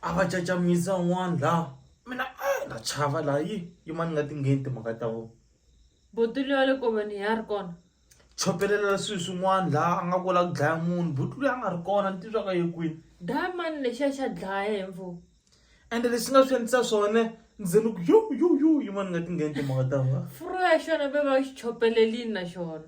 a va cacamisa un'wana laha mina a na chava laha yi yimani nga ti ngheni timhaka ta vona botulu ya le koveni ya ri kona chopelela swilo swin'wana laha a nga ku la ku dlaya munhu botulu ya nga ri kona ni titwaka yi kwini dlaya mani lexiya xa dlaya hi mfumo ende lexi nga swi endlisa swona ndzi ni ku yo yo yo yimani nga ti ngheni timhaka ta vona furo ya xona ve va xi chopelelini na xona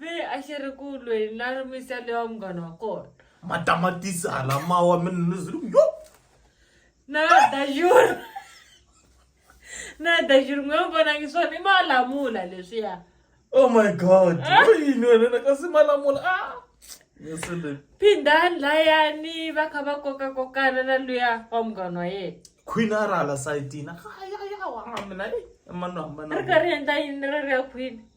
ve a xi ri ku lweni na ri misele wa munghana wa kona matamatisi hala mawa minizulu yo na dajuru na dajuru n'we vonangi swona i malamula leswiya oh my god yini wena na kasi malamula a ah! misele phindani layani va kha va koka kokana na luya wa munghana wa yena queen a ri hala sayitini ayayawa mina i mano hambana ri karhi endla yini ri ri ya queen